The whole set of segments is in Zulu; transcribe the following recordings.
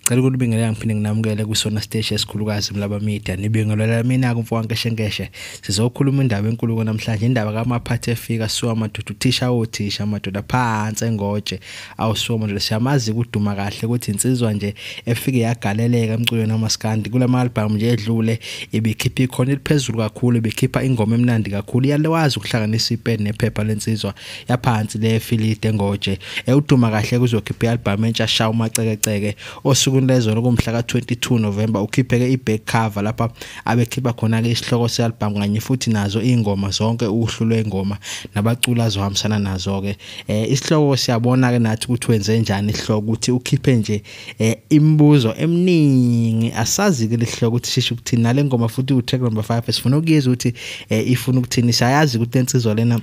Ngicela ukunibingelela ngiphinde nginamukele kwisona siteshi esikhulukazi Mlaba Media. Nibingelela mina kumfo waNkeshenkeshe. Sizokhuluma indaba enkulu namhlanje indaba kamaphathi efika suwa madoda uthisha othisha madoda phansi engoje. Awusuwa madoda siyamazi kuduma kahle ukuthi insizwa nje efike yagaleleka emculweni wamaskandi kulama album nje edlule ibikhipha ikhona eliphezulu kakhulu ibikhipha ingoma emnandi kakhulu iyalewazi ukuhlanganisa ipeni nephepha lensizwa yaphansi le filide ngoje ewuduma kahle kuzokhipha i-albhamu entsha sha umacekeceke osukwini lezolo kumhla ka-22 novemba ukhipheke i-back cover lapha abekhipha khona-ke isihloko se-albhamu kanye futhi nazo iy'ngoma zonke uhlu lwey'ngoma nabaculi azohambisana nazo-ke um isihloko siyabona-ke nathi ukuthi wenze njani isihloko ukuthi ukhiphe nje um imibuzo eminingi asazi-ke le sihloko ukuthi shisho ukuthini nale ngoma futhi utrack number five sifuna ukuyeza ukuthi um ifuna ukuthini siyayazi ukuthi le nsizwa lena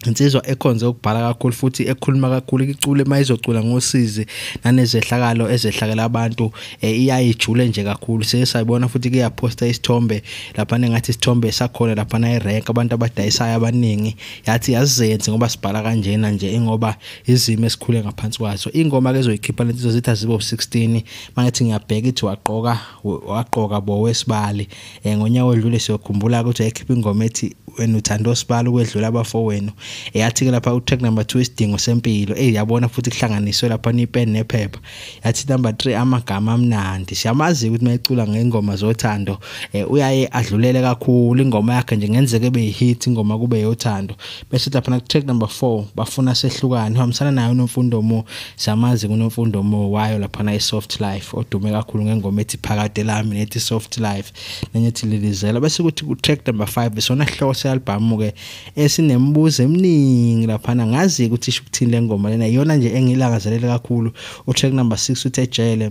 insizwa ekhonze ukubhala kakhulu futhi ekhuluma kakhulu icule uma izocula ngosizi nanezehlakalo ezehlakela abantu eh, iyayijule nje kakhulu siye sayibona futhi kuyaphosta isithombe laphana ngathi isithombe sakhona laphana irank abantu abadayisayo abaningi yathi yazenze ngoba sibhala kanjena nje ingoba izimo esikhule ngaphansi kwazo ingoma ke zoyikhipha lento zitha zibo 16 mangithi ngiyabheka ithi waqoka waqoka bo wesibali um eh, ngonyaka odlule siyokhumbula ukuthi wayekhipha ingoma ethi wena uthanda osibala ukwedlula abafowenu eyathi-ke lapha utrack number two isidingo sempilo eyi yabona futhi kuhlanganiswe lapha nipeni nephepha yathi number three amagama amnandi siyamazi-ke ukuthi mayecula ngey'ngoma zothando um uyaye adlulele kakhulu ingoma yakhe nje ngenzeka ebe yi-hit ingoma kube yothando bese lapha na track number 4 bafuna sehlukane uhambisana nayo unomfundo mo samazi kunomfundo mo wayo lapha na isoft life odume kakhulu ngengoma ethi phakade lami nethi soft life nenye ethi lilizela bese kuthi ku track number 5 besona hloko se album ke esinembuzo eminingi lapha na ngazi ukuthi isho ukuthini lengoma lena iyona nje engilangazelele kakhulu u track number 6 uthi ejele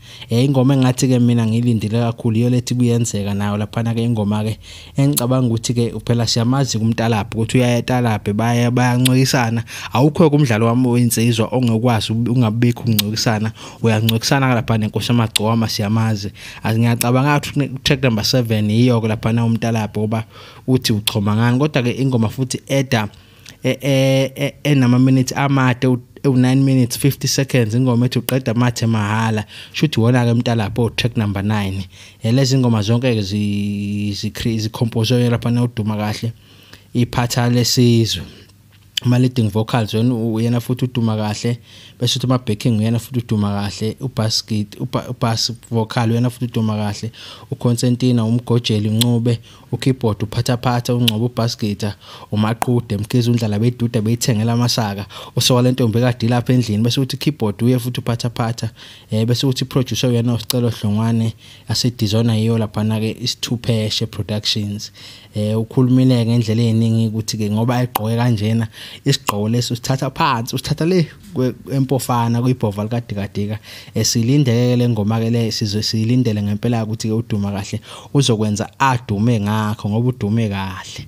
Eh ingoma engathi ke mina ngilindile kakhulu iyo lethi kuyenzeka nayo laphana ke ingoma ke engicabanga ukuthi ke uphela siyamazi kumtalaphi ukuthi uyayetalaphi baya bayancokisana awukho kumdlalo wami wensizwa ongekwazi ungabikho uncokisana uyancokisana lapha nenkosi amagcoma siyamazi ngiyacabanga ukuthi track number 7 yiyo ke lapha na umtalaphi ngoba uthi uchoma ngani kodwa ke ingoma futhi eda e, e, e, enama minutes amade ewu-9 minutes 50 seconds ingoma ethi uqeda amathe mahhala shuthi wona-ke umntalapho track number 9 yelezi ingoma zonke-ke zikhompozwe lapha nawuduma kahle iphatha lesizwe ama-leading vocals wena uyena futhi uduma kahle bese uthi ama-backing uyena futhi uduma kahle ubass git ubass vocal uyena futhi uduma kahle uconstantina umgojeli uncube ukeyboard uphathaphatha ungcobo ubhaskita umaqude mkhize undlala beduda beyithengela amasaka usoka lentombi ekade lapha endlini bese uthi keyboard uye futhi uphathaphatha eh bese uthi producer uyena usicelo hlongwane ase designer yiyo lapha na ke isithupheshe productions eh ukhulumile ngendlela eningi ukuthi ke ngoba egqoke kanjena isigqoko leso sithatha phansi usithatha le empofana kuyibhova likadikadika esilindeke le ngoma ke le sizwe silindele ngempela ukuthi ke uduma kahle uzokwenza adume ngakho ngoba udume kahle